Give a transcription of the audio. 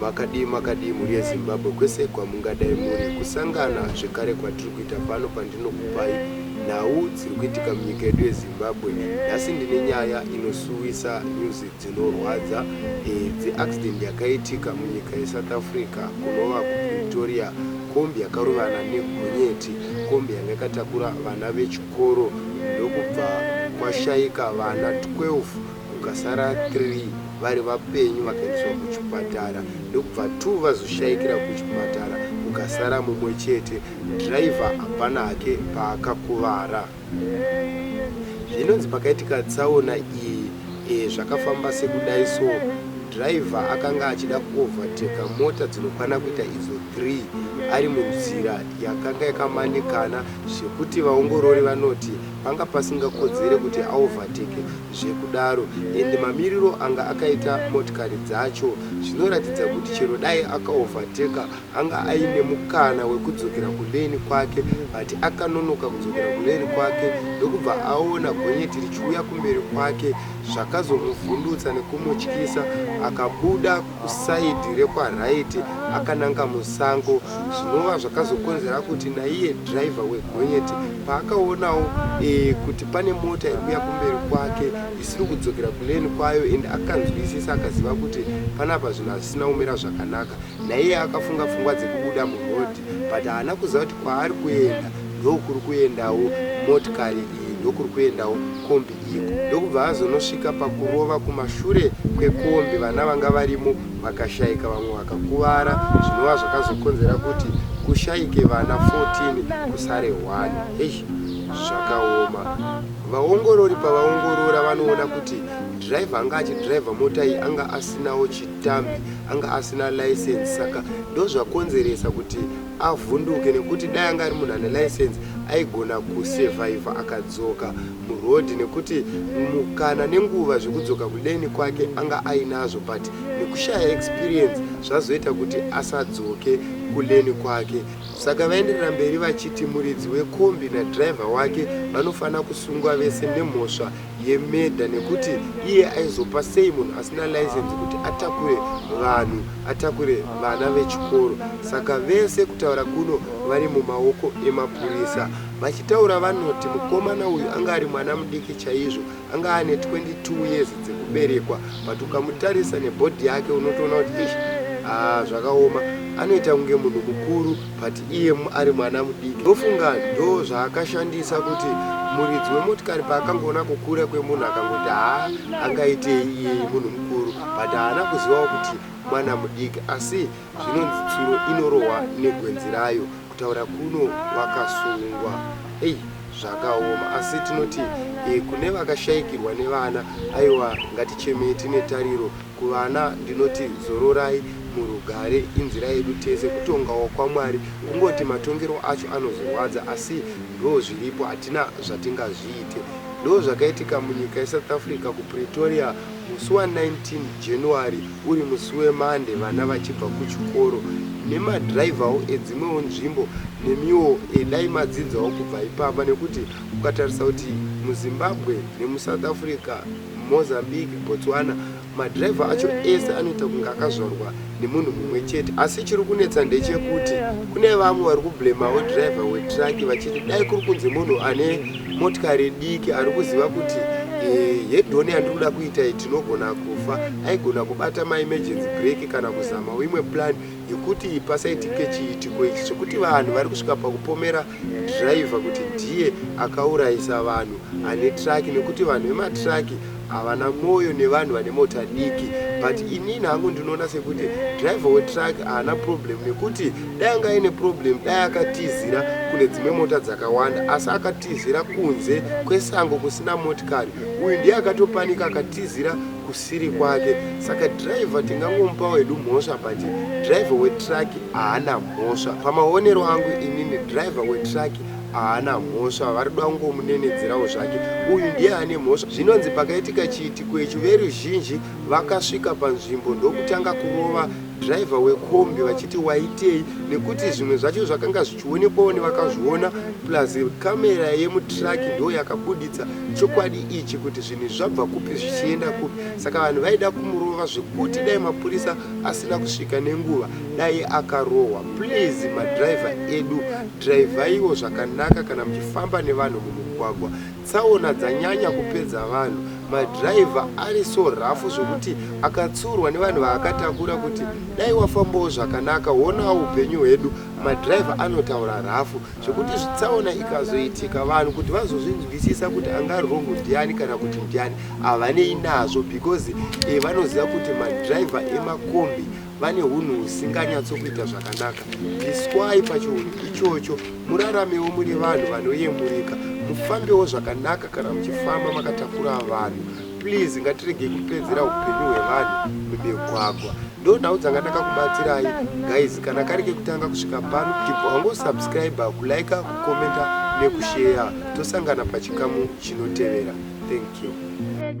makadii makadii mhuri yezimbabwe kwese kwamungadai muri kusangana zvekare kwatiri kuita pano pandinokupai nhau dziri kuitika munyika yedu yezimbabwe nhasi ndine nyaya inosuwisa music dzinorwadza idzi. Accident yakaitika munyika yeSouth Africa kunova kuPretoria, kombi yakarovana negonyeti. Kombi yanga yakatakura vana vechikoro ndokubva kwashaika vana 12 kukasara 3 vari vapenyu vakaendeswa kuchipatara ndokubva 2 vazoshaikira kuchipatara kukasara mumwe chete. Driver hapana hake paakakuvara. Zvinonzi pakaitika tsaona iyi e, zvakafamba sekudai so driver akanga achida kuovateka mota dzinokwana kuita idzo 3 ari munzira yakanga yakamanikana zvekuti vaongorori vanoti panga pasingakodzere kuti aovateke zvekudaro endi mamiriro anga akaita motikari dzacho zvinoratidza kuti chero dai akaovateka Anga aine mukana wekudzokera kulane kwake but akanonoka kudzokera kulane kwake ndokubva aona gonyeti richiuya kumberi kwake zvakazomuvhundutsa nekumutyisa akabuda kuside rekwaright akananga musango zvinova zvakazokonzera kuti naiye driver wegonyeti paakaonawo e, kuti pane mota iri kuya kumberi kwake isiri kudzokera kulane kwayo and akanzwisisa akaziva kuti panapa zvinhu hazvisina kumira zvakanaka Naiye akafunga pfungwa dzekubuda muroad but haana kuziva kuti kwaari kuenda ndokuri kuendawo motikari iyi ndokuri kuendawo kombi iyi ndokubva azonosvika pakurova kumashure kwekombi vana vanga varimo vakashaika vamwe vakakuvara zvinova zvakazokonzera kuti kushaike vana 14 kusare 1 eish zvakaoma vaongorori pavaongorora vanoona kuti driver anga achidriver mota iyi anga asinawo chi Tambi anga asina license saka ndozvakonzeresa kuti avhunduke nekuti dai anga ari munhu ane license aigona kusurvivha akadzoka muroad nekuti mukana nenguva zvekudzoka kuleni kwake anga ainazvo but nekushaya experience zvazoita kuti asadzoke kuleni kwake saka vaenderera mberi vachiti muridzi wekombi nadriver wake vanofanira kusungwa vese nemhosva yemedha nekuti iye aizopa sei munhu asina license kuti atakure vanhu atakure vana vechikoro saka vese kutaura kuno vari mumaoko emapurisa vachitaura vanoti mukomana uyu anga ari mwana mudiki chaizvo anga ane 22 years dzekuberekwa but ukamutarisa nebhodhi yake unotoona kuti ish haa ah, zvakaoma anoita kunge munhu mukuru but iye ari mwana mudiki ndofunga ndo zvaakashandisa kuti muridzi wemotikari paakangoona kukura kwemunhu akangoti haa angaitei iyeye munhu mukuru but haana kuzivawo kuti mwana mudiki asi zvinonzi tsuro inorohwa negwenzi rayo kutaura kuno vakasungwa ei zvakaoma asi tinoti e, kune vakashayikirwa nevana aiwa ngatichemei tine tariro Kuvana ndinoti zororai murugare inzira yedu tese kutongawo kwaMwari kungoti matongero acho anozorwadza asi ndozviripo hatina zvatingazviite ndozvakaitika munyika yeSouth Africa kuPretoria musi wa 19 January uri musi weMande vana vachibva kuchikoro nemadriverwo edzimwewo nzvimbo nemiwo edai madzidzawo kubva ipapa nekuti ukatarisa kuti muZimbabwe nemuSouth Africa Mozambique, Botswana, madriver acho ese anoita kunge akazvarwa nemunhu mumwe chete. Asi chiri kunetsa ndechekuti kune vamwe vari kublemawo driver wetruck vachiti dai kuri kunzi munhu ane motikari diki ari kuziva kuti eh, hedhoni yandiri kuda kuita iyi tinogona kufa, aigona kubata maemergency break kana kuzamawo imwe plan yekuti pasaitike chiitiko ichi chekuti vanhu vari kusvika pakupomera driver kuti ndiye akaurayisa vanhu ane truck nekuti vanhu vematruck havana mwoyo nevanhu vane mota diki but inini hangu ndinoona sekuti driver wetruck haana problem nekuti dai anga aine problem dai akatizira kune dzimwe mota dzakawanda asi akatizira kunze kwesango kusina motikari uyu ndiye akatopanika akatizira kusiri kwake saka driver tingangomupa wedu mhosva but driver wetruck haana mhosva pamaonero angu inini driver wetruck haana mhosva vari kuda kungomunenedzerawo zvake uyu ndiye ane mhosva zvinonzi pakaitika chiitiko ichi veruzhinji vakasvika panzvimbo ndokutanga kurova driver wekombi vachiti waitei nekuti zvimwe zvacho zvakanga zvichionekwawo nevakazviona plus kamera yemutruck ndo yakabuditsa chokwadi ichi kuti zvinhu zvabva kupi zvichienda kupi saka vanhu vaida kumurova zvekuti dai mapurisa asina kusvika nenguva dai akarohwa please madriver edu drivaiwo zvakanaka kana muchifamba nevanhu mumugwagwa Tsaona dzanyanya kupedza vanhu. Ma driver ari so rough zvekuti akatsiurwa nevanhu vaakatakura kuti dai wafambawo zvakanaka woonawo upenyu hwedu. Ma driver anotaura rough zvekuti tsaona ikazoitika vanhu kuti vazozvinzwisisa kuti anga ari wrong ndiani kana kuti ndiani havanei nazvo because vanoziva kuti ma driver ema kombi vane hunhu husinganyatso kuita zvakanaka iswai pachiunhu ichocho muraramewo muri vanhu vanoyemurika mufambewo zvakanaka kana muchifamba makatakura vanhu please ngatiregei kupedzera upenyu hwevanhu mumigwagwa ndo nhau dzanga ndakakubatsirai guys kana kari kekutanga kusvika pano tibva wangosubscribe kulike kukomenta nekusheya tosangana pachikamu chinotevera thank you